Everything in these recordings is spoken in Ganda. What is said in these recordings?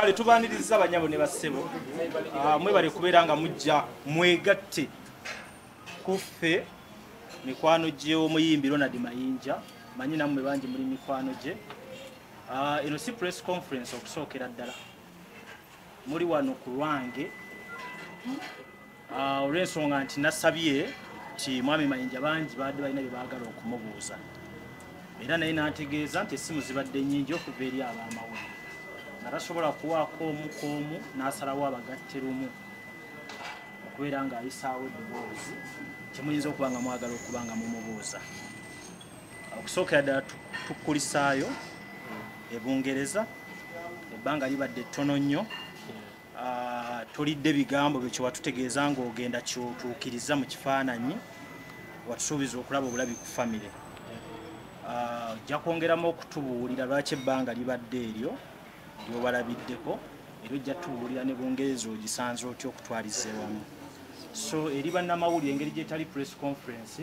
kale tubaniriza abanyabo ne bassebo ah, mwebale kubeera nga mujja mwegatte kuffe mikwano gy'omuyimbi ronald mayinja manyi nammwe bangi muli mikwano gye ah, eno si press conference okusookera ddala muli wano ku lwange ah, olw'ensonga nti nasabye nti mwami mayinja bangi baadde balina bye baagala okumubuuza era naye n'ategeeza nti essimu zibadde nnyingi okuva eri abaamawulire nga tasobola kuwaako omu ku omu n'asalawo abagatte lumu okubeera ng'ayisaawo eddoboozi kyemuyinza okuba nga mwagala okuba nga mumubuuza okusookera ddala tukulisaayo e bungereza ebbanga libadde ttono nnyo ah, tolidde bigambo byo kyewatutegeeza ngaogenda kyotuukiriza mu kifaananyi watusuubiza okulaba obulabi ku famire ah, ojja kwongeramu okutubuulira lwaki ebbanga libadde eryo lyobalabiddeko era ojja tubuulira ne bungereza ogisanze otya okutwaliza ewamu so eri bannamawulire engeri gyetali press conference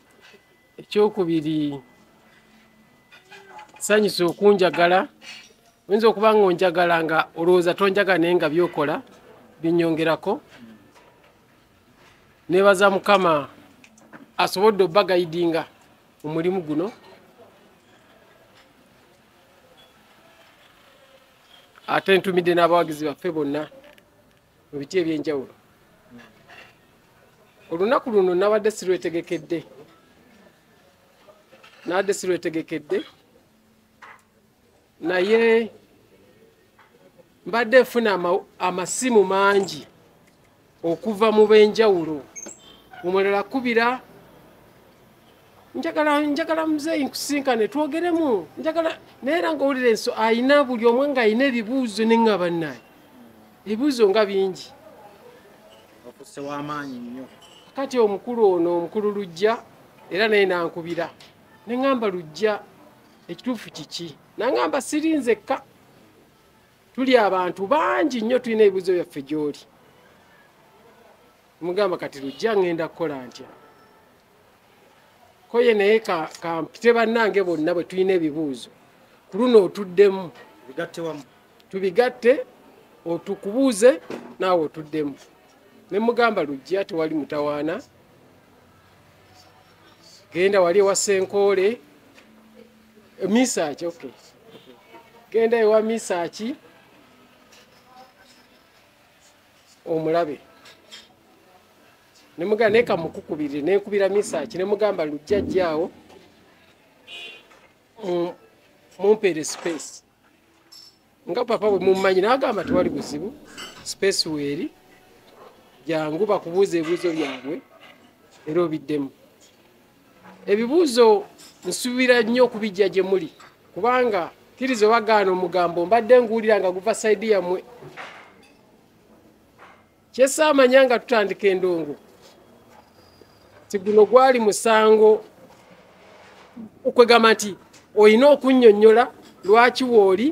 ekyokubiri sanyusa okunjagala oyinza okuba nga onjagala nga olowooza tonjagala naye nga byokola binyongerako nebaza mukama asobodde obagayidinga omulimu guno ate ntumidde n'abawagizi baffe bonna mu biti ebyenjawulo olunaku luno nabadde sirwetegekedde nabadde sirwetegekedde naye mbadde nfuna amasimu mangi okuva mu benjawulo omulala kubira njagala njagala muzeeyi nkusinkane twogeremu njagala naye era ngaowulira enso ayina buli omwe nga ayina ebibuuzo ne nga bannaye ebibuuzo nga bingi osewamaanyi nnyo kati omukulu ono omukulu lujja era naye nankubira ne ŋamba lujja ekituufu kiki naŋamba siri nzekka tuli abantu bangi nnyo tulina ebibuuzo byaffe gy'oli mugamba kati lujja ngenda kukola ntya koye naye kampite bannange bonna bwe tulina ebibuuzo ku luno otuddemu tubigatte otukubuuze naawe otuddemu ne mugamba lujja tewali mutawaana genda wali ewa senkoole misaaki ok genda ewa misaaki omulabe nemugamba naye kamukukubirire nenkubira misaki nemugamba lujjajjaawo mumpeere space nga papa bwe mummanyi nagamba tewali buzibu space weeri jangu bakubuuza ebibuzo byabwe era obiddemu ebibuuzo nsuubira nnyo okubijja gye muli kubanga kkiriza obagaana omugambo mbadde nguwulira nga guva saidi yammwe kyesaamanya nga tutandika endongo ti guno gwali musango okwegamba nti olina okunnyonnyola lwaki wooli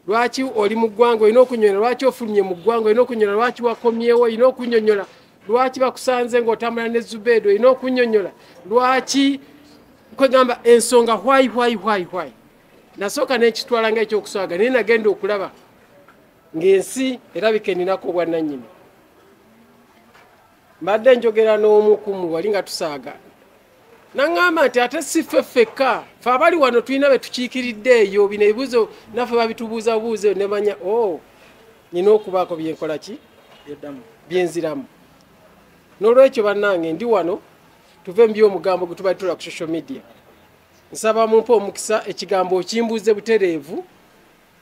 lwaki oli mu ggwanga olina okunyonyola lwaki ofulumye mu ggwanga olina okunyonyola lwaki wakomyewo olina okunyonyola lwaki bakusanze ng'otambula ne zubeedo olina okunyonyola lwaki kwegamba ensonga hwayi hwayi hwayi hwayi nasooka nekitwala nga ekyokuswaga naye nagenda okulaba ng'ensi erabika eninako obwannanyini mbadde njogera n'omu kumu wali nga tusaaga naŋŋamba nti ate si ffe ffekka fe abali wano tulina be tukiikiridde eyo bino ebibuuzo naffe babitubuuzabuuza eyo nemanya o oh, nina okubaako byenkola ki byenziramu n'olwekyo bannange ndi wano tuve mu byomugambo gwe tubali tula ku social media nsaba mumpe omukisa ekigambo okimbuuze butereevu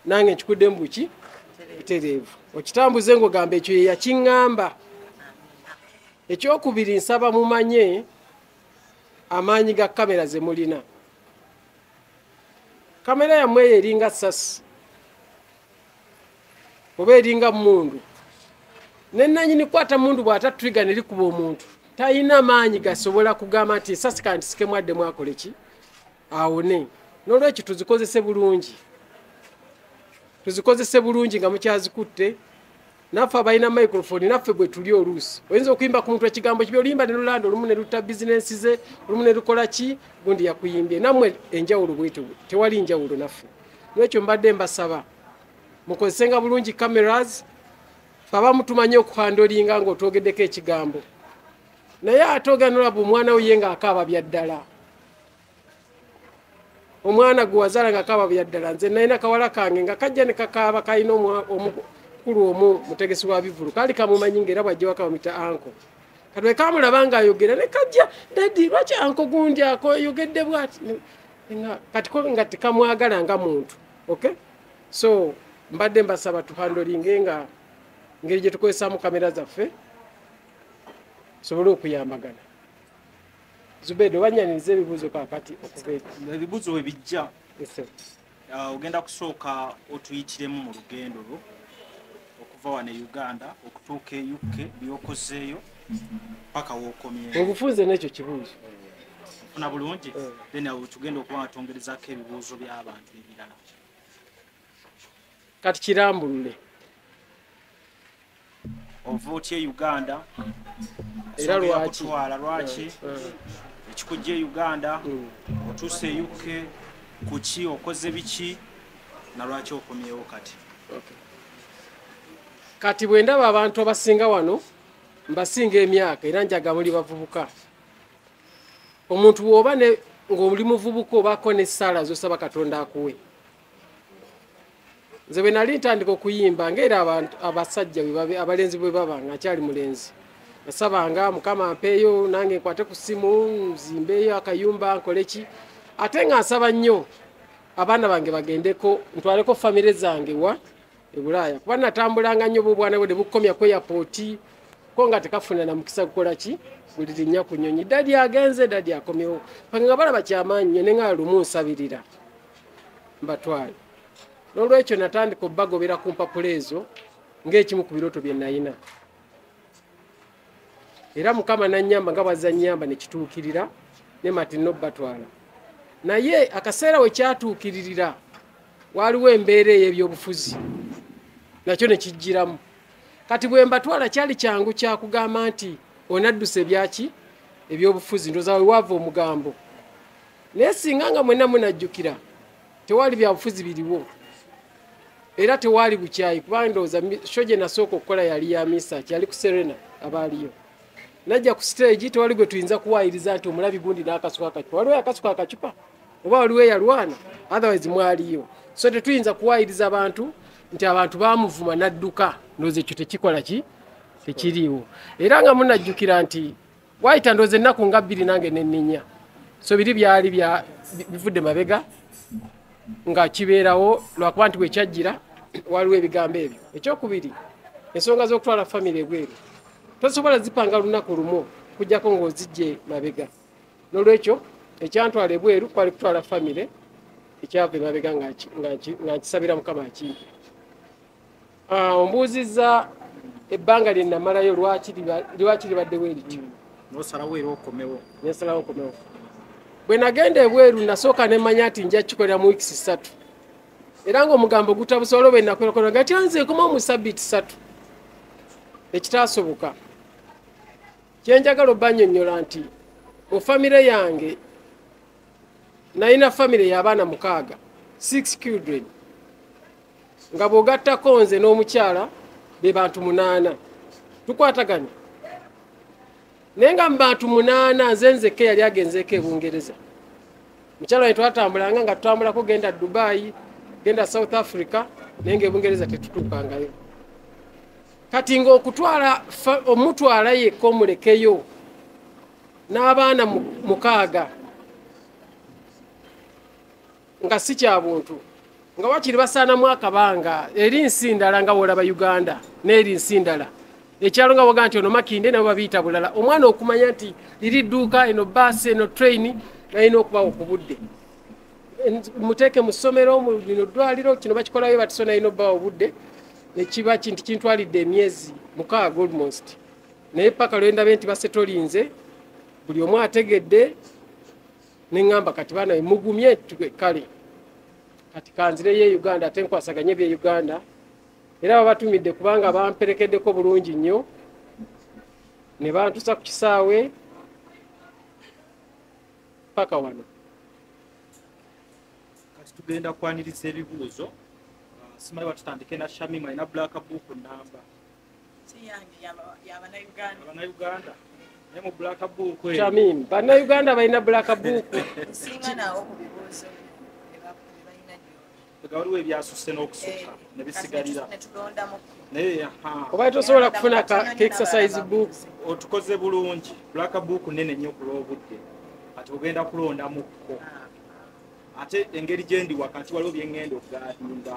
nange nkikudde mu buki butereevu okitambuze ngaogamba ekyo yeyakiŋŋamba ekyokubiri nsaba mumanye amaanyi ga kamera ze mulina kamera yammwe eyo eringa sasi oba eringa mundu nenanyini kwata mundu bwatatriga nelikuba omuntu talina maanyi gasobola kugamba nti esasi kandisikemu addemu akole ki awone nolwekyo tuzikozese bulungi tuzikozese bulungi nga mukyazikutte naffe abalina microfoni naffe bwe tuli oluusi oyinza okuyimba ku muntu ekigambo kibi oluyimba ne lulanda olumu ne lutta bizinensi ze olumu ne lukola ki gundi yakuyimbye nammwe enjawulo bwetyo tewali njawulo naffe nolwekyo mbadde mbasaba mukozesenga bulungi cameras baba mutumanyi okuhandolinga nga otwogeddeko ekigambo naye ate oganolaba omwana wo ye ngaakaaba byaddala omwana gwe wazaala nga kaaba byaddala nze nalina kawala kange nga kajja ne kakaaba kalina omukulu omu mutegesi wa bivulu kaali kamumanyi ngaera bwajja wakabamita anko katwe kamulaba nga ayogera ne kajja dadi lwaki anko gundi ako ayogedde bwati kati ko nga tekamwagala nga muntu ok so mbadde mbasaba tuhandolinge nga ngeri gye tukozesaamu kamera zaffe tusobole okuyambagana zubedo banyaniriza ebibuuzo kakati ebibuuzo we bijja uh, ogenda kusooka otuyitiremu mu lugendo lwo okuva wano e uganda okutuuka e uk byokozeeyo paka wokomye obufunze nekyo kibuuzo funa bulungi eh. then awo tugenda okuba nga twongerezako ebibuuzo by'abantu ebirala kati kirambulule ova otya e uganda era lwakitwala lwaki eh, eh. ekikujja e uganda hmm. otuuse e uk kuki okoze biki nalwaki okomyewo kati kati bwe ndaba abantu abasinga wano mbasinga emyaka era njaga muli bavubuka omuntu woba ng'oli muvubuka obaako n'essaala zosaba katonda akuwe nze bwe nali ntandika okuyimba ngaera abasajja abalenzi bwe baba nga akyali mulenzi nasabanga mukama mpeeyo nange nkwate ku simu nzimbeeyo akayumba nkoleki ate nga nsaba nnyo abaana bange bagendeko ntwaleko famire zange wa ebulaaya kuba natambulanga nnyo bobwana bwe nebukomya ku eyapooti ko nga tekafuna na mukisa kukola ki buli linnya ku nyonyi dadi agenze dadi akomyewo pange nga balaba kyamaanyi nyo ne nga lumu nsabirira mbatwale n'olwekyo natandika obbagobera ku mpapula ezo ng'ekimu ku birooto bye nayina era mukama nanyamba nga bwazza nyamba ne kituukirira ne matinno bbatwala naye akaseera we kyatuukiririra waaliwo embeera ey'ebyobufuzi nakyo ne kijjiramu kati bwe mbatwala kyali kyangu kya kugamba nti onaddusa ebyaki ebyobufuzi ndoza we waava omugambo naye singa nga mwenna munajjukira tewali byabufuzi biriwo era tewaali bukyayi kubanga ndowooza sho gye nasooka okukola yali ya misaki yali ku serena abaaliyo najja ku siteegi tewali gwe tuyinza kuwaayiriza nti omulabi gundi n'akasuka akacupa waliwo akasuka akacupa oba waliwo eyalwana otherwise mwaliyo so tetuyinza kuwaayiriza abantu nti abantu bamuvuma n'adduka ndowooza ekyo tekikola ki tekiriiwo era nga munajjukira nti wayita ndoozi ennaku nga bbiri nange nenninya so biri byali bivudde mabega nga kibeerawo lwakuba nti wekyajjira waliwo ebigambo ebyo ekyokubiri ensonga z'okutwala famiry ebweru tosobola zipanga lunaku lumu kujjako ng'ozijje mabega nolwekyo ekyantwala ebweru kwali kutwala famiry ekyava emabega nga nkisabira mukama akimpi Ah, ombuuzizza ebbanga lye namalayo lwaki libaddewo erityo nosalawo era okomewo nsalawo okomewo bwe nagenda ebweru nasooka nemanya nti nja kikolera mu wiikisi ssatu era ngaomugambo gutabusa olwo bwenakolakona nga kyanze ekoma omu sabiiti ssatu ekitaasoboka kyenjagala obanyonyola nti mu famire yange nalina famire y'abaana mukaaga six children nga bw'ogattako nze n'omukyala be bantu munaana tukwataganya naye nga mu bantu munaana nze nzekka eyali agenzeeko e bungereza mukyalo ne twatambulanga nga tutambulako genda dubayi genda south africa naye nga ebungereza tetutuukangayo kati ngaokutwala omutwala yekka omulekeyo n'abaana mukaaga nga si kya buntu nga wakiri basaanamu akabanga eri nsi ndala nga wolaba uganda n'eri nsi ndala ekyalo nga waga nti ono makinde nabo babiyita bulala omwana okumanya nti liri dduuka eno baasi eno train nalina okubawo ku budde muteeke mu ssomero mubino ddwaliro kino bakikolayo batiso nalina obubawo obudde nekiba kinti kintwalidde emyezi mukaaga almost naye paka lwendabe nti basetolinze buli omu ategedde neŋamba kati bana mugumye kale kati kanzireyo e uganda ate nkwasaganye bye uganda era babatumidde kubanga bamperekeddeko bulungi nnyo ne bantusa ku kisaawe paka wano kati tugenda kwaniriza ebibuuzo simanyi batutandike na shamim alina black book namba Shamim, bannayuganda balina bulaka buuku waliwo ebyasusse n'okusukka ne bisigalira naye oba tosobola kufuna exercise book otukoze bulungi black book nene nnyo ku lw'obudde kati ogenda kulondamukko ate engeri gyendi wakati waliwo byeŋŋenda okugaadinda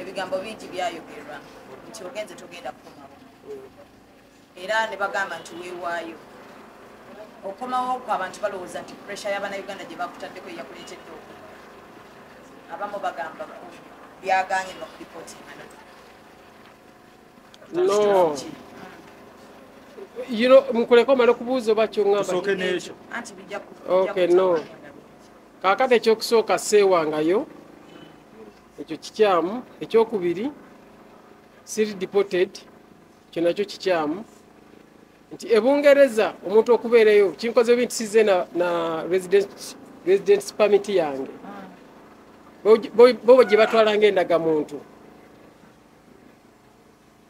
ebigambo bingi byayogerwa nti ogenze togenda kukomawo era ne bagamba nti weewaayo okomawo ku abantu balowooza nti puresha y'abana uganda gye bakutaddeko eyakuleetedde oku abamu bagamba byaganye nokulipotingana no you know mukuleka omala okubuuza oba kyongambaokyo okay no kakati ekyokusooka seewangayo ekyo kikyamu ekyokubiri siri deported kyo nakyo kikyamu nti ebungereza omuntu okubeereyo kinkoze binti size na, na resident, resident permit yange bobo gye batwala nga endaga muntu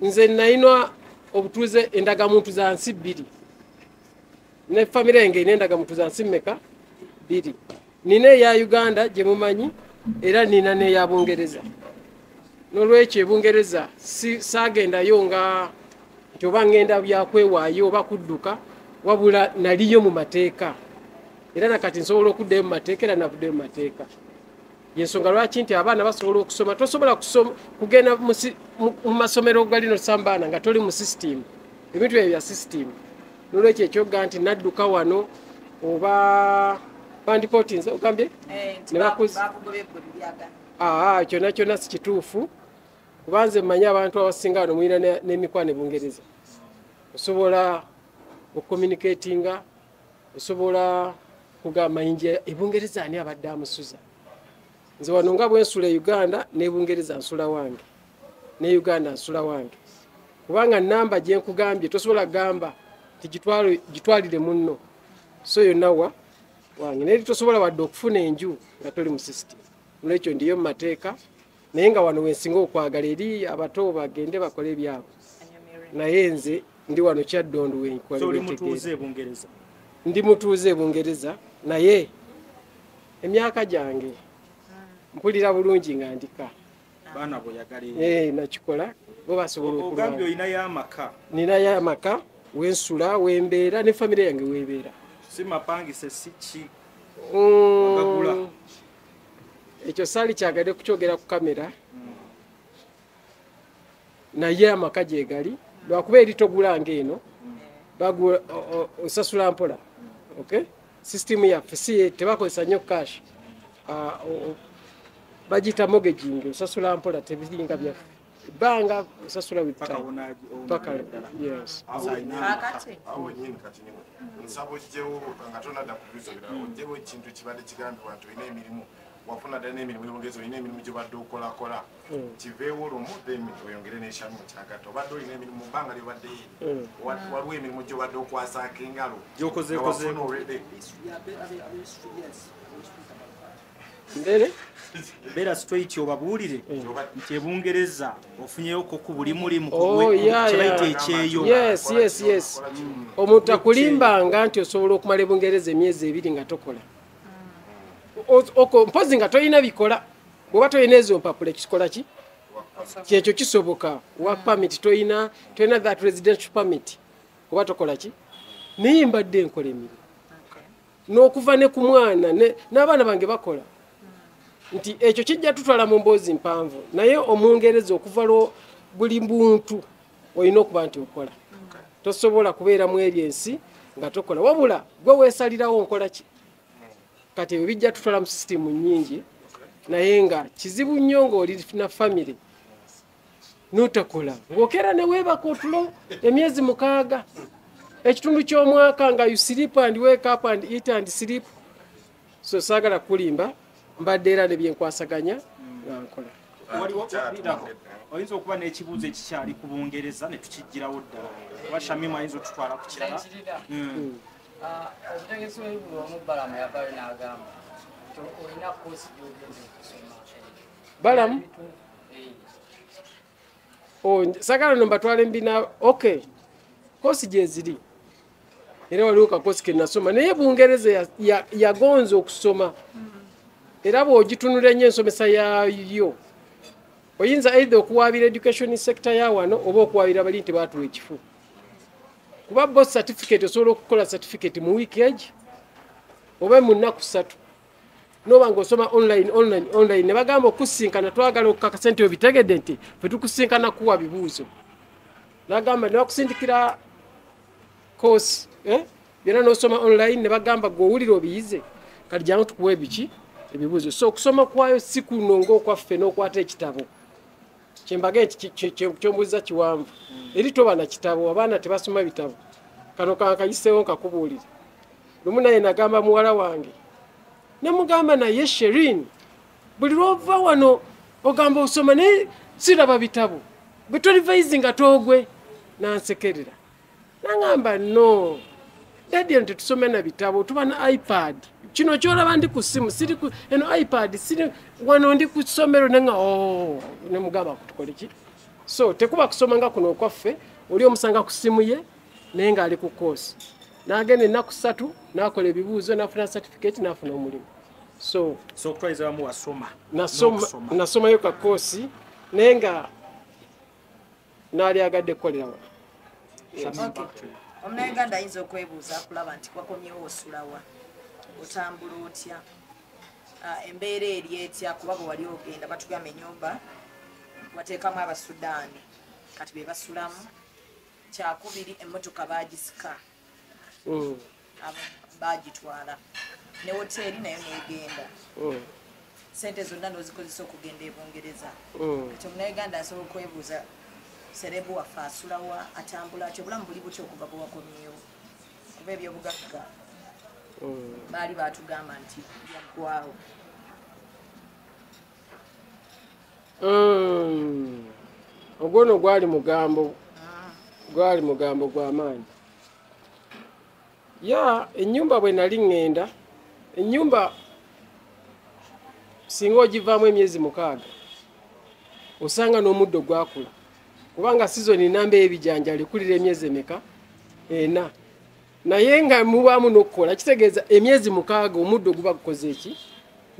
nze nayinwa obutuuze endagamuntu za nsi bbiri ne famire yange ina endagamutuza nsi mmeka biri nina eya uganda gye mumanyi era nina n'eya bungereza n'olwekyo ebungereza saagendayo nga nti oba ngenda byakwewaayo oba kudduka wabula naliyo mu mateeka era nakati nsobola okuddayo mu mateeka era navuddeyo mu mateeka yensonga lwaki nti abaana basobola okusoma tosobola kugenda mu masomero galino sambaana nga toli mu sisitimu ebintu ebyo bya sisitimu nolwekyo ekyoga nti nadduka wano oba bandikotinze ogambye eh, ah, kyona kyona sikituufu kuba nze mmanyi abantu abasinga wano mulina n'emikwano ebungereza osobola okucommunicatinga osobola kugamba inja ebungereza ani abadde amusuza nze wano nga bwensula e uganda ne bungereza nsula wange ne uganda nsula wange kubanga namba gyenkugambye tosobola kugamba nti gitwalire munno so yonna wa wange naye tosobola wadde okufuna enju nga toli mu system nolwekyo ndiyo mu mateeka naye nga wano wensinga okwagala eri abato bagende bakole ebyabwe naye nze ndi wano kyaddondu wenkolndi mutuuze e bungereza naye emyaka gyange mpulira bulungi nga ndika baana bweyagala eh, nakikola bo basobola okugambye olinayo amaka ninayo amaka wensula wembeera ne famire yange webeera si mapangise si ki mm. ekyo saali kyagade kukyogera ku kamera mm. naye amaka gyegali lwakuba eri togula nga eno bagula osasula mpola okay system yaffe si tebakozesa nnyo cash ah, bagiyita mogaging osasula mpola tebiringa byaffe ebbanga osasula nsaba ojjewo nga tonadda kubuuza birala mm. ojjewo ekintu kibadde kigambibwa nti olina emirimu wafuna ddala n'emirimu yomugezi olina emirimu gyobadde okolakola mm. kiveewo lumu then oyongere nekyamu mukyagatta obadde olina emirimu mubbanga lyobadde yeri mm. waliwo emirimu gyobadde okwasaako engalo gyokozekozefuna olwedde mbere beera straight obabuulire mm. nti ebungereza ofunyeyoko ku buli mulimu oh, kyebayita ekyeyo mm. omuntu akulimbanga nti osobola okumala ebungereza emyezi ebiri nga tokola mm. mpozi nga tolina bikola bwoba tolina ezo mpapula ekikola ki kyekyo kisoboka wa permit toyina toyina that residential permit oba tokola ki naye mbadde nkola emirimu n'okuva ne ku mwana n'abaana bange bakola nti ekyo kijja tutwala mu mboozi mpanvu naye omungereza okuva lwo buli muntu olina okuba nti okola tosobola kubeera mu ebyo ensi nga tokola wabula gwe weesalirawo nkola ki kati ebyo bijja tutwala mu sisitimu nyingi naye nga kizibu nnyo ngaoli na famiry notakola ngaokeera neweebaka otulo emyezi mukaaga ekitundu ky'omwaka nga you sleep and wake up and eat and sleep so saagala kukulimba mbadde era nebyenkwasaganya nga nkola oyinza okuba n'ekibuuzo ekikyali ku bungereza ne tukijjirawo ddala oba shamimu ayinza otutwala ku kirala hmm. Ah, omutegesi w'ebigulu omu balamu yavayo n'agamba nti olina koosi gy'ogenda okusoma balamu eh. oh, sagala no mbatwala embina ok koosi gyeziri era waliwo kakoosi ke nasoma naye bungereza yagonza okusoma era bw'ogitunula ennyo ensomesa yayo oyinza eitha okuwaabira education sector ya wano oba okuwaabira bali nti baatuwa ekifu kuba bo certificate osobola okukola certificate mu week age oba mu nnaku ssatu noba nga osoma online online online ne bagamba okusinkana twagala okukaka sente yo bitegedde nti fe tukusinkana kuwa bibuuzo nagamba ne bakusindikira course eh? byona nosoma online ne bagamba gwe owulira obiyize kati jangu tukuwa ebiki ebibuuzo so okusoma kwayo si kuno ngaokwaffe n'okwata ekitabo kyembaga kyombuziza kiwanvu eri toba na kitabo abaana tebasoma bitabo kano kankayiseewo nkakubuulire lumu naye nagamba muwala wange nemugamba naye sherin buli lwova wano ogamba osoma naye siraba bitabo bwetolivayizi nga togwe nansekerera nangamba no dadi nti tusome na bitabo tuba na ipad kino kyolaba ndi ku simu siri eno ipad siri wano ndi ku ssomero nenga oh, nemugamba kutukoleki so tekuba kusoma nga kuno okwaffe oli omusanga ku simu ye naye ngaali ku koosi nagenda ennaku satu nakola ebibuuzo nafuna certificate nafuna omulimu so nasomayo kakoosi naye nga naali agadde kukolera wa omunauganda ayinza okwebuuza akulaba nti wakomyewo osulawa otambula otya ah, embeera eri etya kuba bwe wali ogenda batugamba enyumba wateekamu abasudaani kati be basulamu kyakubiri emmotoka bagisika mm. bagitwala ne woteeri nayo negenda mm. sente zonna nozikozesa okugenda e bungereza mm. kati omunauganda asobola okwebuuza serebu waffe asulawa atambula atyo obulamu buli butya okuva bwewakomyewo kuba ebyobugagga baali batugamba nti yaggwawo Mm. ogwo no gwali mugambo gwali mugambo gwamaanyi ya enyumba bwe nali ŋŋenda enyumba singa ogivaamu emyezi mukaaga osanga n'omuddo gwakula kubanga sizoni namba ebijanjalo ekulira emyezi emeka ena naye nga mubaamu n'okukola kitegeeza emyezi mukaaga omuddo guba gukoze eki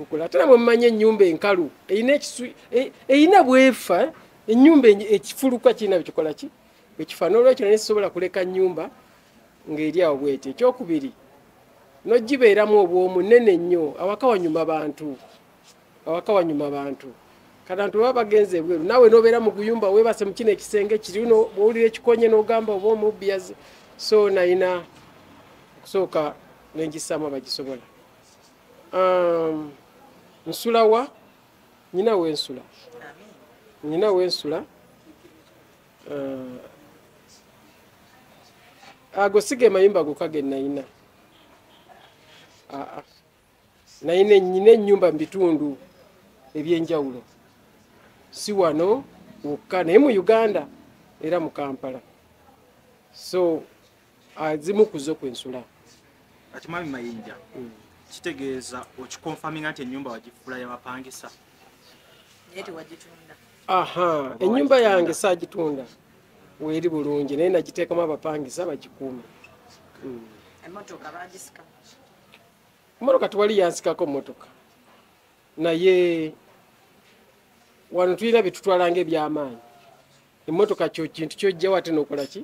okula ate namwe mumanyi ennyumba enkalu erina ekisu e, erina bwefa ennyumba ekifuluka kirina bikikola ki bwekifa n'olwekyo naye sisobola kuleka nnyumba ng'eri awo bwetyo ekyokubiri nogibeeramu obwomu nene nnyo awaka wanyuma bantu awaka wanyuma abantu katantu baba bagenze ebweru nawe nobeera mu guyumba webase mu kino ekisenge kiri uno bwowulira ekikonye n'ogamba oba omubbi yazi so nayina okusooka nengisaamu abagisobola um, nsula wa nyina wensula nyina wensula uh, ago siga emayumba gokage nayina aa ah, ah. naye nenyina ennyumba mu bitundu ebyenjawulo si wano wokka naye mu uganda era mu kampala so azimu kuzo kwensula kati mwami mayinja mm. kitegeeza okikonfaminga nti ennyumba wagifuula yabapangisa aha ennyumba yange saagitunda weeri bulungi naye nagiteekamu abapangisa bagikuume mm. Mmotoka tewali yansikako mmotoka, naye wano tulina bye tutwala ng'ebyamaanyi. Emmotoka kyo kintu kyojjawo ate n'okola ki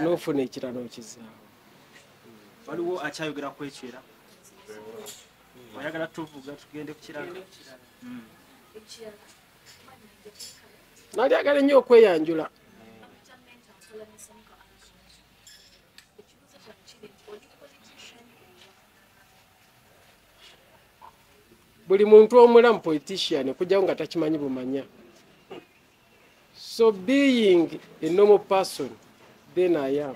n'ofuna ekirala okizaawo. Waliwo akyayogera ku ekyo era oyagala tuvuga tugende ku kirala. Hmm. Nali agala ennyo okweyanjula. buli muntu omulamu politician okujjawo nga takimanyi bumanya so being a normal person then i am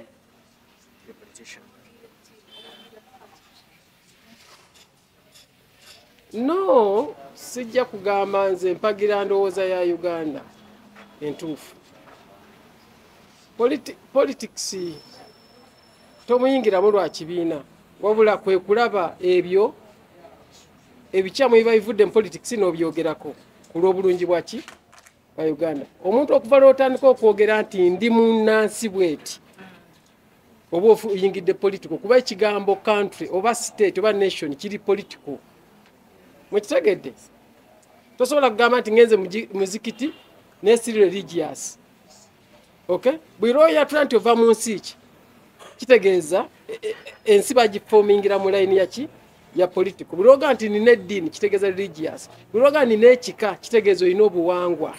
no sijja kugamba nze mpagira ndowooza ya uganda entuufu politics tomuyingiramu lwa kibiina wabula kwe kulaba ebyo ebikyamu biba bivudde mu politics n'obyogerako ku lw'obulungi bwaki bwa uganda omuntu okuva lwotandika okwogera nti ndi munnansi bweti oba oyingidde political kuba ekigambo country oba state oba nation kiri political mwekitegedde tosobola kugamba nti ngenze muzikiti nesiri religious okay buli lwoyatula nti ova mu nsi ki kitegeeza e, e, e, ensi bagifomingira mu layini yaki ya politico buli lwoga nti nina eddiini kitegeeza religious buli lwoga nina ekika kitegeeza olina obuwangwa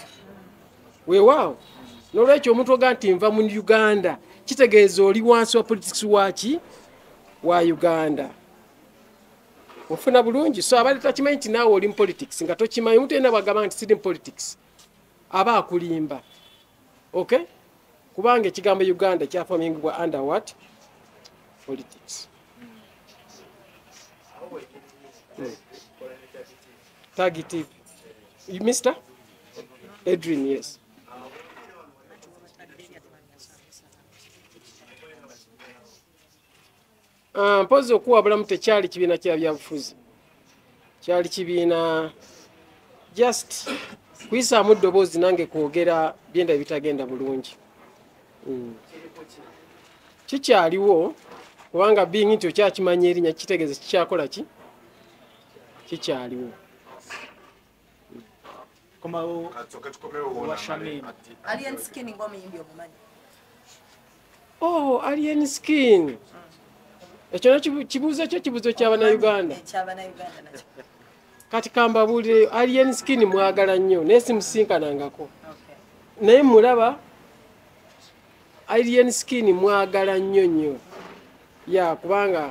weewaawo nolwekyo omuntu oga nti nva mu uganda kitegeeza oli wansi wa politics waki wa uganda ofuna bulungi so abadde takimanyi nti naawe oli mupolitics nga tokimanyi omuntu yena bwagamba nti siri mupolitics aba akulimba ok kubanga ekigambo uganda kyafamingibwa under what politics hmm. Tagi TV. You, Mr. Edrin, yes. Ah, mpozi okuwabulamu tekyali kibiina kya byabufuzi kyali kibiina just kuyisaamu ddoboozi nange kwogera byenda ebitagenda bulungi hmm. kikyaliwo kubanga bingi nti okyakimanya erinya kitegeeza kikyakola ki kikyaliwo komawo wa Shamim. Alien skin ng'omuyimbi omumanyi. oh alien skin ekyo nakyo kibuuzo kyo kibuuzo kyabanauganda Ekyabanauganda nakyo. kati kambabuulire alien skin mwagala nnyo naye simusinkanangako Okay. naye mulaba alien skin mwagala nnyo nnyo ya kubanga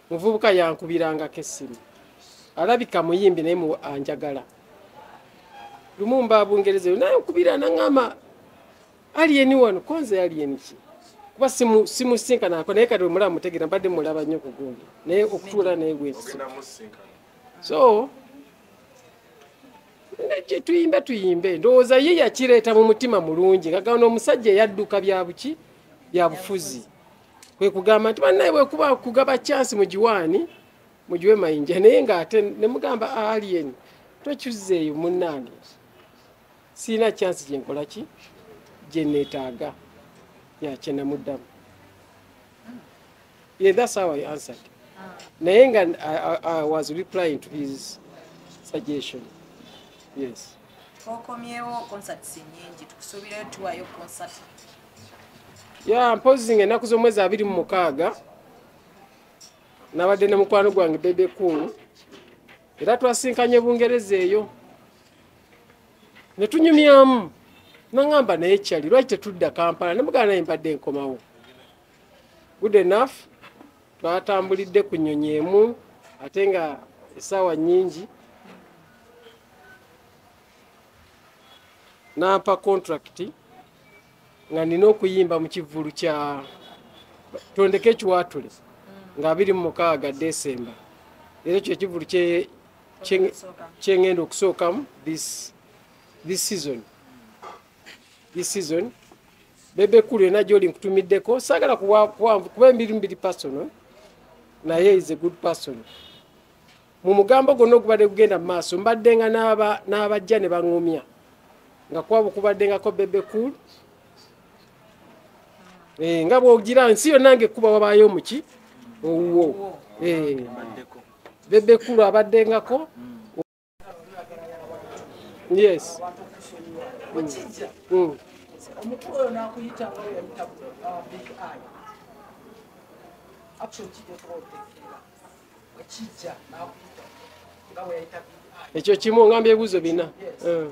muvubuka yankubirangako essimu alabika muyimbi naye anjagala lumu mba bungereza eyo naye nkubira naŋama aliyeni wano konze aliyeni ki kuba simusinkanako naye kati omulaba mutegera mbadde mulaba nnyo kugundi naye okutuula naye gwekisi so gyetuyimbe tuyimbe ndowooza ye yakireeta mu mutima mulungi nga gano omusajja eyadduka byabuki byabufuzi kwe kugamba nti bannaye bwekuba kugaba chansi mu giwaani mugiwe mayinja naye ng'ate ne mugamba alien tokyuzzeeyo munnange sirina chansi gye nkola ki gye neetaaga yakye namuddamu ye thats how i answered naye nga i was replying to his suggestion yes twokomyewo concerts nyingi tukusuubirayo tuwayo concert ya mpozi nga ennaku z'omwezi abiri mu mukaaga nabadde ne mukwano gwange bebe cool era twasinkanye bungereza eyo netunyumyamu nangamba naye kyali lwaki tetudda kampala nemugana naye mbadde nkomawo good enough twatambulidde ku nyonyi emu ate nga esaawa nyingi nampa contract nga nina okuyimba mu kivvulu kya tondeka ekiwaatule nga abiri mu mukaaga desemba era ekyo ekivvulu kyengenda okusookamu this season this season bebe kulu yona gyoli nkutumiddeko saagala kuwanvu kuba embiri mubiri personal naye is a good person mu mugambo gonna ogubadde gugenda mu maaso mbaddenga n'abajja ne baŋumya nga kwabo kubaddengako bebe cool eh, nga bwogira nsi yonna nga ekkuba wabaayo omuki owuwo eh, bebe cool abaddengako yes mm. Mm. Actually, ekyo kimu ngamba ebibuzo bina hmm.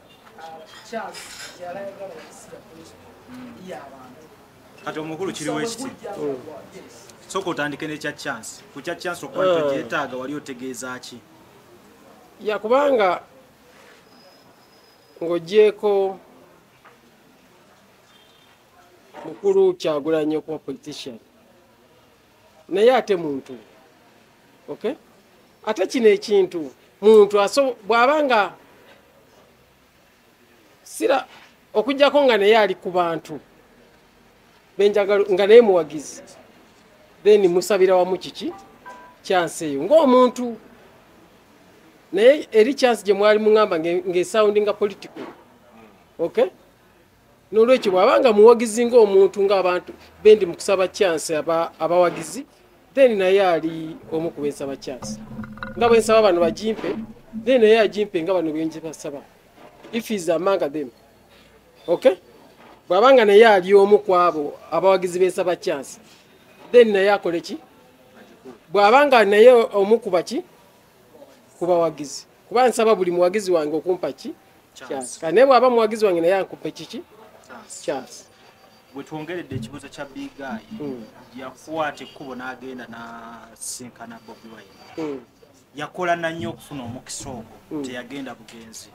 kati omukulu kiri wekiti soka otandike nekya chance kukya chance okuba nti ogyetaaga wali otegeeza ki yakubanga ng'ogyeko mukulu kyagulanyi okuba politician naye ate muntu okay ate kino ekintu muntu aso bwaba nga sira okujjako nga naye ali ku bantu benjagala nga naye muwagizi then musabira wamu kiki kyansi eyo ngaomuntu naye eri kyansi gye mwali muŋamba ng'esawundinga political okay n'olwekyo bw'aba nga muwagizi ng'omuntu ng'abantu bendi mu kusaba kyansi abawagizi then naye ali omu ku bensaba kyansi nga bwe nsaba bano bagimpe then naye agimpe nga bano bengi basaba if is among them okay bw'aba nga naye ali omu ku abo abawagizi bensaba kyansi then naye akole ki bw'aba nga naye omu ku baki ku bawagizi kuba nsaba buli muwagizi wange okumpa ki chance kane bwaba muwagizi wange naye akupe kiki chance wetwongeredde ekibuzo kya big guy hmm. yakwata ekkubo n'agenda nasinkana bobi wine hmm. yakola nannyo okufuna omukisa ogwo hmm. teyagenda bugenzi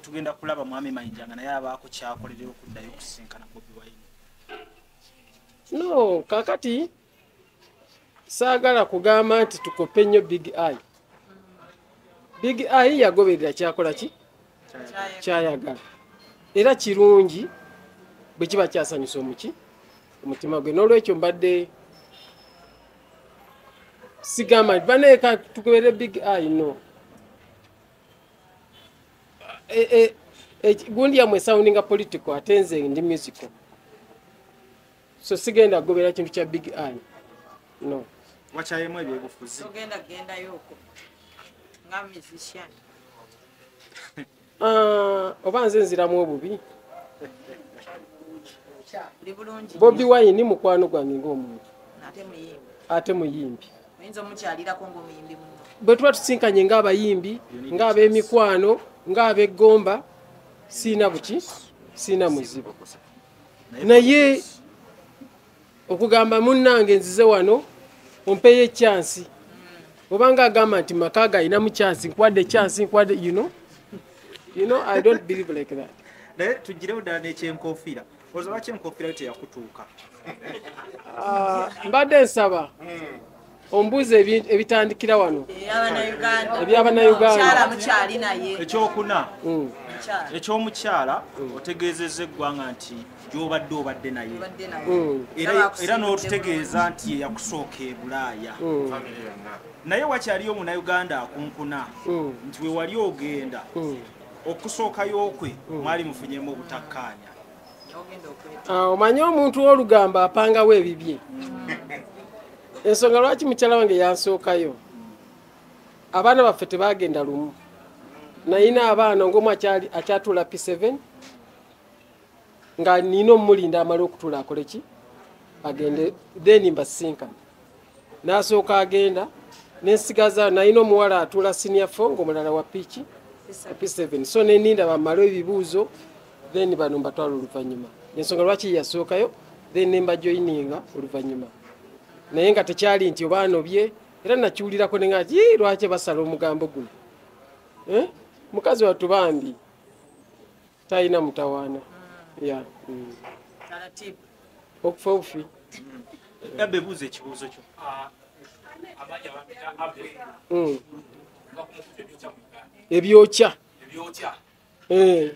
tugenda kulaba mwami mayinja nga naye abaako kyakolerera okuddayo okusinkana bobi wine no kakati saagala kugamba nti tukope nnyo big i big i yagoberera kyakola ki kyayagala era kirungi bwe kiba kyasanyusa omuki omutima gwe n'olwekyo mbadde sigamba nti baneeka tukubere big i no e, e, e, gundi yamwe soundinga political ate nze ndi musical so sigenda kugobera kintu kya big an no wakyayemu ebyobufuzi ogenda kugendayoko nga musician ah, oba nze nziramu obubi bobi wayini mukwano gwange ngaomuntu ate muyimbi bwe tuba tusinkanye ngaabayimbi ngaabemikwano ngaabegomba siina buki siina muzibu naye okugamba munnange nzize wano ompeyo ekyansi obanga agamba nti maka galinamu kyansi nkwadde ekyansi nkwadde you know you know i don't believe like that naye tugirewo ddala nekyenkofiira oza lwaki enkofiira yo teyakutuuka ah, mbadde nsaba ombuuza ebitandikira wano ebyabanayugandaekyokuna mm. ekyomukyala mm. otegeezeza eggwanga nti gyobadde obadde naye mm. era n'otutegeeza nti eyakusooka ebulaaya naye wakyaliyo omunauganda akunkuna nti wewali ogenda okusookayookwe mwali mufunyemu obutakkaanya ah, omanyi omuntu wolugambo apangawo ebibye ensonga lwaki mukyala wange yansookayo abaana baffe tebagenda lumu nayina abaana ngaomu akyatula p7 nga nina omumulinda amale okutula akoleki agende then mbasinkana n'asooka agenda nensigaza nalina omuwala atula senior fo ngaomulala wa piiki p7 so neninda bamala ebibuuzo then bano mbatwala oluvanyuma ensonga lwaki yasookayo then nembajoininga oluvanyuma naye nga tekyali nti obaanobye era nakiwulirako nenga ti lwaki basala omugambo guno eh? mukazi wattu bambi talina mutawaana ya mm. okufa obufi yabba ebuuza ekibuuzo kyo mm. ebyokya eh.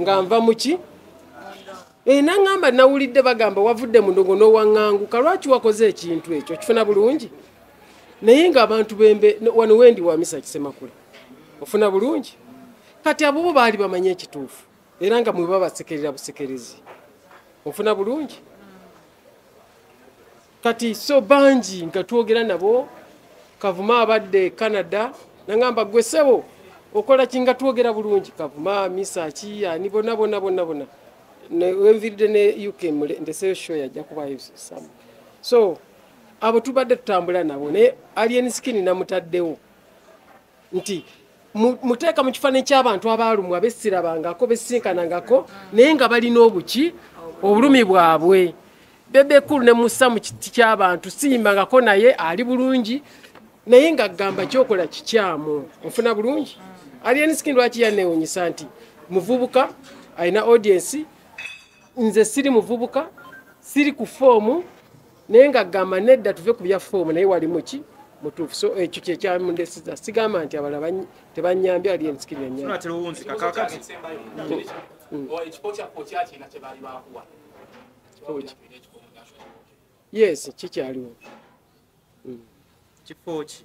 nga nva muki eh, naŋamba nawulidde bagamba wavudde mundogo nowaŋanguka lwaki wakoze ekintu ekyo kifuna bulungi naye nga abantu bembe wano wendi wamisa kisemakula ofuna bulungi kati abobo baali bamanye ekituufu era nga mwebabasekerera busekerezi ofuna bulungi kati so bangi nga twogera nabo kavuma abadde canada nangamba gwe sebo okola kinga twogera bulungi kavuma misa ki ani bona bona bona bona wenviridde ne uk ndeseyo show yajja kubayo samu so abo tubadde tutambula nabo naye alien skin namutaddewo nti muteeka mu kifaananyi ky'abantu abaalumwa bessirabangako bessinkanangako naye nga balina obuki obulumi bwabwe bebekulu ne musa mu kiti ky'abantu siyimbangako naye ali bulungi naye nga gamba kyokola kikyamu ofuna bulungi alienski lwaki yanewunyisa nti muvubuka alina audiensi nze siri muvubuka siri ku foomu naye nga gamba nedda tuve ku bya foomu naye walimu ki mutuufu so ekyo kyekyamundesiza sigamba nti abala tebanyambye ali ensikiri yes kikyaliwo mm. kifo ki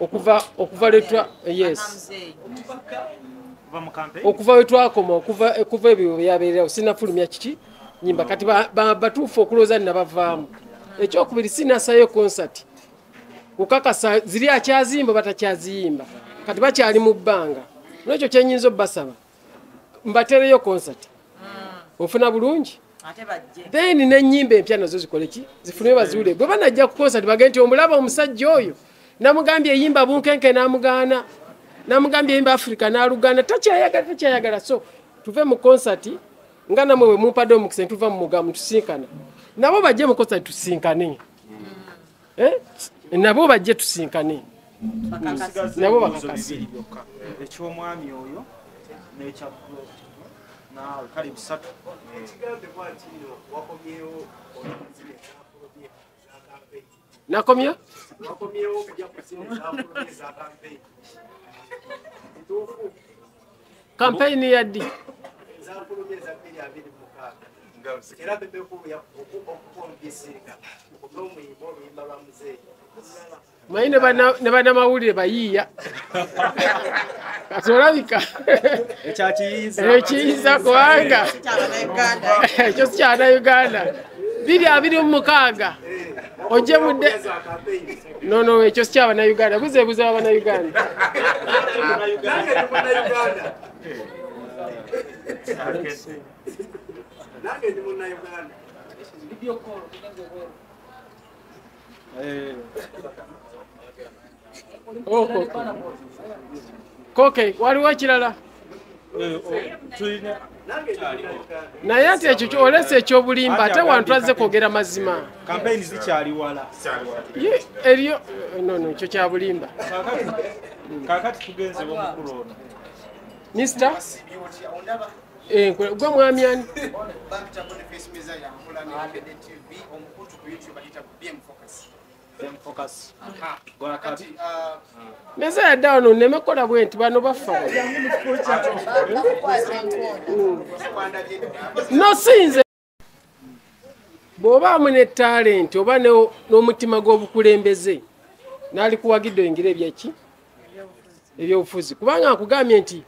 okuva okuva letwa yes okuva wetwakoma okuva okuva ebyo byabeererawo sinafulumya kiki nyimba kati batuufu okulooza ninabavaamu ekyokubiri sinasayo concert kukakasa ziri akyazimba batakyaziyimba kati bakyali mu bbanga nolwekyo kyenyinza obbasaba mbatereyo concert ofuna bulungi then nenyimba empya nazo zikoleki zifunire baziwule gwe banajja ku concert bage nti omulaba omusajja oyo namugambye eyimba bunkenke namugaana namugambye eyimba africa nalugaana takyayagala takyayagala so tuve mu concert nga namwe wemumpadde omukisa ntuva mu mugamu tusinkana nabo bajje mu concert tusinkane mm. eh? nabo bajje tusinkane nabo bakakasi ekyomwami oyo nekya naawe kale bisatu nakomya kampeyini ya ddi era bebekulu okukonvisinga n'omuyimba oluyimba lwa muzeeyi manyi ne banamawulire bayiiya katolabika ekiyiza kubanga ekyo sikyana uganda biri abiri mu mukaaga ojemudde No, no, ekyo si kyabana Uganda. Buze buze abana Uganda. Nange ndi munna Uganda. Video call. Eh. Oh, oh, oh. Koke, waliwo ekirala? naye ati ekyo olesa ekyobulimba ate wantu azze kwogera mazima eriyo nono ekyo kyabulimba mista eh, gwe mwami ani neze yadde wano nneme kukola bwe nti bano baffa nosinze bw'obaamu ne talenti oba n'omutima gw'obukulembeze naalikuwagidde oyingira ebyaki ebyobufuzi kubanga nkugambye nti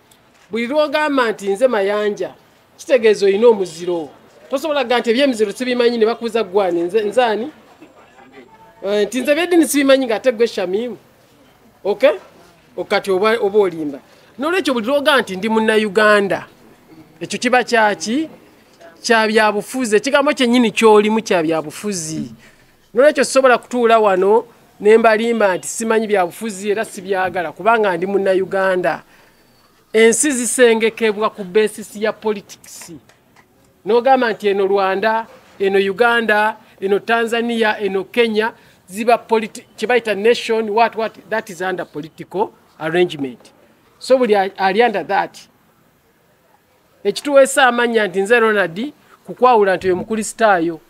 buli lwogamba nti nze mayanja kitegeeza olina omuziro tosobola ga nti ebyemiziro sibimanyi ne bakuuza gwani nzaani eh, nti nze byedini sibimanyi nga ate gwe shamimu ok okati oba olimba nolwekyo buli lwoga nti ndi munnauganda ekyo kiba kyaki kyabyabufuzi ekigambo kyenyini kyolimu kyabyabufuzi nolwekyo sisobola kutuula wano ne mbalimba nti simanyi byabufuzi era sibyagala kubanga ndi munnayuganda ensi zisengekebwa ku besisi ya politikisi n'ogamba nti eno rwanda eno uganda eno tanzania eno kenya ziba kyebayita nation what what that is under political arrangement so buli ali under that ekituweesa amannya nti nze ronald kukwawula nti oyo mukulisitaayo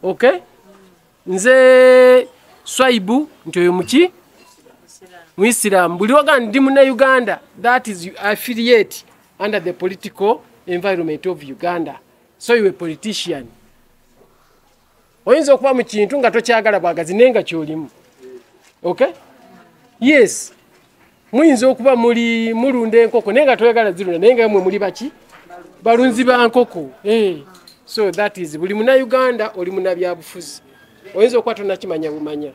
ok nze swaibu nti oyo muki muisiramu buli waga ndi muna uganda that is affiliate under the political environment of uganda so you a politician oyinza okuba mu kintu nga tokyagala bwagazi naye nga kyolimu ok yes muyinza okuba muli mulunda enkoko naye nga toyagala zirunda naye nga mwe muli baki balunzi ba nkoko eh, so that is buli muna uganda oli muna byabufuzi oyinza okuba tonakimanya bumanya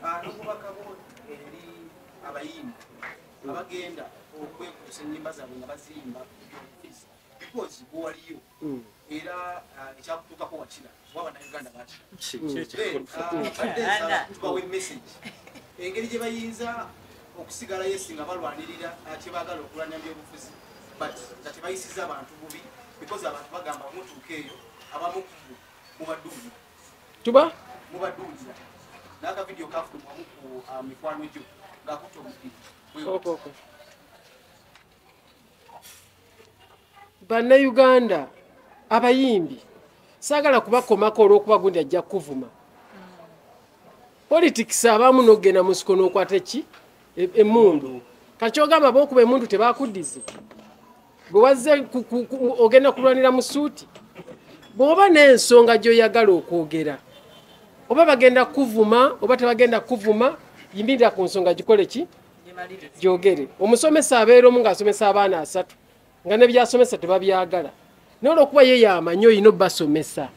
abagenda okwekusa enyimba zabwe nga baziyimba because waliyo era ah, ekyakutuukako wakira oba bannayuganda bakiabawa emessage engeri gye bayinza okusigala yesi nga balwanirira ah, kyebaagala okulwanya byobufuzi but nga tebayisiza abantu bubi because abantu bagamba mutuuka eyo abamu mubaduulira tuba mubaduulira nakavidiyo kafulumwamu ku ah, mikwano gyo ngakutta omupiri bannayuganda abayimbi saagala kubakomako olwokuba gundi ajja kukuvuma politics abamu nokugenda musiko nokwata ki e, emundu kakyogamba bokuba emundu tebakuddize bwewazze ogenda kulwanira mu suuti bwoba n'ensonga gyoyagala okwogera oba bagenda kuvuma oba tebagenda kuvuma yimirira ku nsonga gikole ki gyogere omusomesa abeera omu ng'asomesa abaana asatu nga nebyasomesa tebabyagala naye olwokuba ye yamanyi olina obasomesa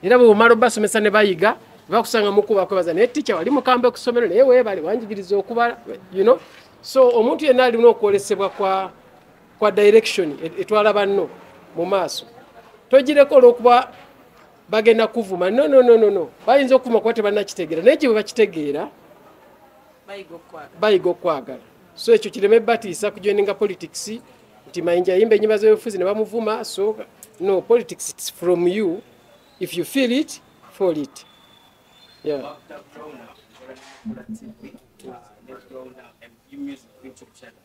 era bwebumala obasomesa ne bayiga bakusanga mukubakwebaza naye ticha wali mukambe kusomero naye webale wanjigiriza okubala you know? so omuntu yenna alina okwolesebwa kwa, kwa direction e, etwala banno mu maaso togireko olwokuba bagenda kuvuma no, no, no, no, no. bayinza okuvuma kuba tebanakitegera naye gye bwe bakitegeera bayiga okukwagala so ekyo kireme batiisa kujoininga politics nti mayinja yimba enyimba z'ebifuzi ne bamuvuma so no politics it's from you if you feel it fall it yeah.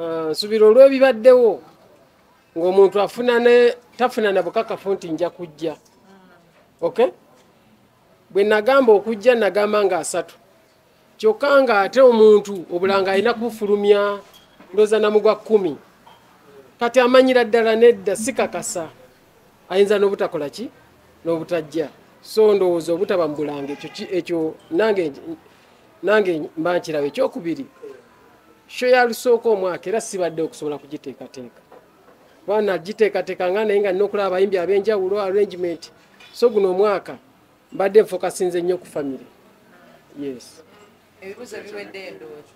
Ah, nsubira olw'ebibaddewo ng'omuntu afuna ne tafuna na bukakafu nti nja kujja ok bwe nagamba okujja nagamba nga asatu kyokka nga ate omuntu obulanga alina kubufulumya ndooza namu gwa kkumi kati amanyira ddala nedda sikakasa ayinza n'obutakola ki n'obutajja so ndowooza obutaba mu bulanga ekyo nange mba nkirawo ekyokubiri sho ya lusooka omwaka era sibadde okusobola kugiteekateeka kuba nagiteekateeka nga naye nga nina okulaba abayimbi ab'enjawulo arrangement so guno omwaka mbadde nfokasinze nnyo ku famire yes ebibuzo biwedde ndoozi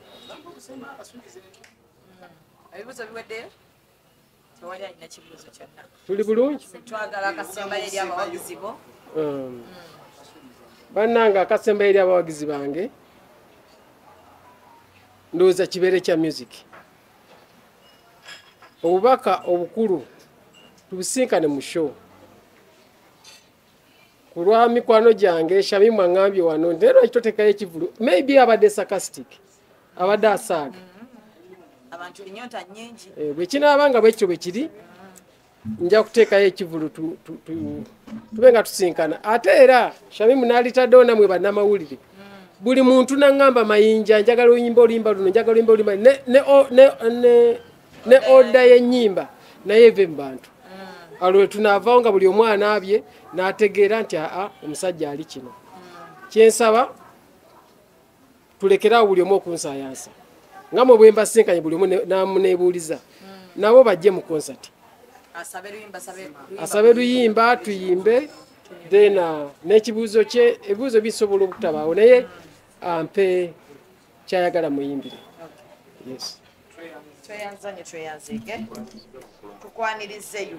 ebibuzo biweddeyo tewali alina kibuuzo kyonna tuli bulungi twagala akasembayo eri abawagizi bo um, bannange akasembayo eri abawagizi bange ndowooza kibeere kya music obubaka obukulu tubusinkane mu show ku lwa mikwano gyange shamimu aŋambye wano nti era lwaki totekayo ekivulu maybe abadde sarcastic abadde asaaga eh, bwe kinaaba nga bwekityo bwe kiri nja kuteekayo ekivulu tube nga tusinkana ate era shamimu nalitaddewo namwe bannamawulire buli muntu naŋŋamba mayinja njagala oluyimba oluyimba luno njagala oluyimba oluyimba ne oda y'ennyimba naye eve mu bantu mm. alwe tunaavawo nga buli omwana abye n'ategeera nti aa omusajja ali kino kyensaba tulekeraawo buli omu okunsayansa nga mwe bwemba sinkanye buli omu namunebuuliza hmm. nabo bajje mu konsati asabe luyimba tuyimbe then uh, n'ekibuuzo kye ebibuuzo bisobola obutabaawo naye ampe uh, kyayagala muyimbire yes tweyanzanye tweyanzege tukwanirizeyo